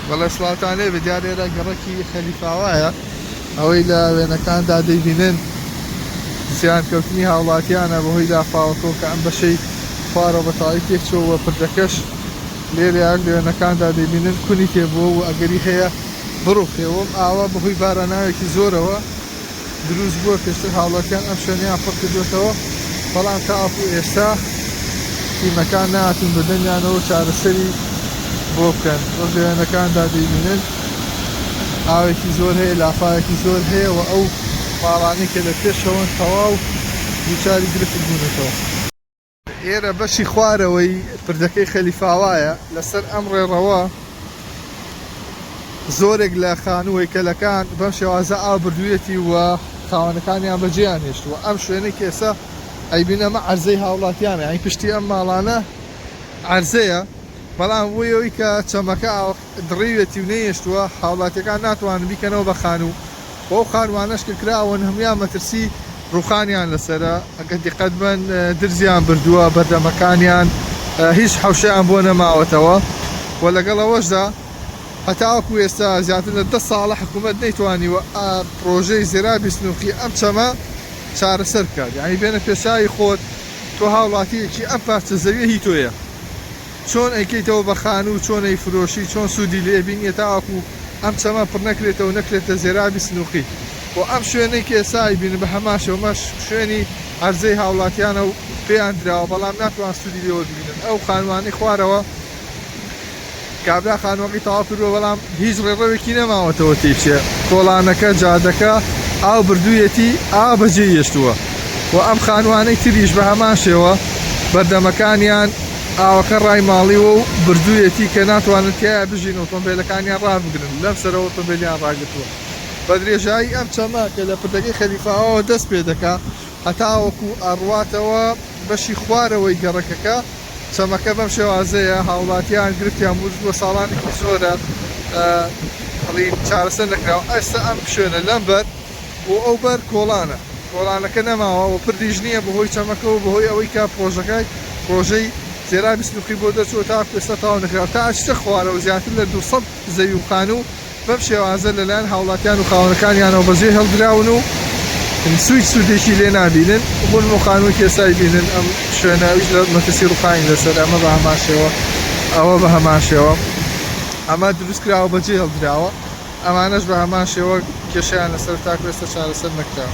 بەڵێ سڵاوتان لێبێ دیا لێرە گەڕەکی خەلیفاوایە ئەوەی لە وێنەکاندا دەیبینن زیان کەوتنی هاوڵاتیانە بەهۆی لافاوەکەوە کە ئەم بەشەی خوارەوە بە تەواوی تێکچووە و پردەکەش لێرە لە وێنەکاندا دەیبینن کونی تێبووە و ئەگەری هەیە بڕوخێ و ئەم ئاوە بەهۆی باراناوێکی زۆرەوە دروست بووە پێشتر هاوڵاتیان ئەم شوێنەیان پڕ کردووەتەوە بەڵام تاوەکو ئێستا تیمەکان ناتون بەدەمیانەوە چارەسەری بۆ بکەن وەک لەوێنەکاندا دەیبینن ئاوێکی زۆر هەیە لافاوێکی زۆر هەیە و ئەو ماڵانی کە لە پێشەوەن تەواو دووچاری گرفت بوونەتەوە ئێرە بەشی خوارەوەی پردەکەی خەلیفاوایە، لەسەر ئەم ڕێڕەوە زۆرێک لە خانوو و هەیکەلەکان بەم شێوازە ئاو بردوویەتی و خاوەنەکانیان بەجێیان هێشتووە، ئەم شوێنەی کە ئێستا ئەیبینن ئەمە عەرزەی هاوڵاتیانە، یانی پشتی ئەم ماڵانە عەرزەیە، بەڵام بۆ ئەوەی کە چەمەکە ئاو. دڕیوێتی و نەیهێشتووە، هاوڵاتییەکان ناتوانن بیکەنەوە بە خانوو و ئەو خانووانەش کە کراون هەموویان مەترسی ڕووخانیان لەسەرە، ئەگەر دیقەت بەن درزیان بردووە، بەردەمەکانیان هیچ حەوشەیان بۆ نەماوەتەوە و لەگەڵ ئەوەشدا هەتاوەکو ئێستا زیاتر لە دە ساڵە حکوومەت نەیتوانیوە پڕۆژەی زێرابی سنووقی ئەم چەمە چارەسەر بکات، یانی بێنە پێچاوی خۆت تۆ هاوڵاتییەکی ئەم پارچە زەوییە هی تۆیە. چۆن ئەیکەیتەوە بە خانوو چۆن ئەیفرۆشی چۆن سوودی لێ بینیە تاوەکو ئەم چەمە پڕ نەکرێتەوە نەکرێتە زێرابی سنوقی و ئەم شوێنەی کە ئێستا ئەیبینن بە هەمان شێوە مەش شوێنی عەرزەی هاوڵاتیانە و پێیان دراوە بەڵام ناتوان سوودی لێوە ببینن ئەو خانووانەی خوارەوە کابرا خانووەکەی تەواو کردووە بەڵام هیچ ڕێڕەوێکی نەماوەتەوە تێیچێ کۆڵانەکە جادەکە ئاو بردوویەتی ئاو بەجێی هێشتووە و ئەم خانووانەی تریش بە هەمان شێوە بەردەمەکانیان ئاوەکە ڕای ماڵیوە و بردوویەتی کە ناتوانن تیایا بژین و ئۆتۆمبێلەکانیان ڕابگرن، لەمسەرەوە ئۆتۆمبێلیان ڕاگرتووە. بە درێژایی ئەم چەمە کە لە پردەکەی خەلیفە ئاوەوە دەست پێ دەکا هەتاوەکو ئەڕواتەوە بەشی خوارەوەی گەڕەکەکە، چەمەکە بەم شێوازەیە، هاوڵاتیان گرفتیان بووژ بووە ساڵانێکی زۆرە بڵێین چارەسەر نەکراوە، ئێستا ئەم شوێنە لەمبەر. و ئەو بەر کۆڵانە کۆڵانەکە نەماوە و پردیش نییە بەهۆی چەمەکەوە بەهۆی ئەوەی کە پڕۆژەکای پڕۆژەی تێرابی سنوقی بۆ دەرچووە تاکو ئێستا تەواو نەکراوە تا ئەچیتە خوارەوە زیاتر لە دوو سەد زەوی و خانوو بەم شێوازە لەلایەن هاوڵاتیان و خاوەنەکانیانەوە بەجێ هێڵدراون و سویچ سودێکی لێ نابینن بۆ نموو خانووەکی ئێستا ئەیبینن ئەم شوێنە ئەویش لە مەترسی ڕوخانی لەسەر ئەمە بە هەمان شێوە ئەوە بە هەمان شێوە ئەمە دروست کراوە بەجێ هێڵدراوە. ئەمانەش بە هەمان شێوە کێشەیان لەسەر تاکو ئێستا چارەسەر نەکراوە.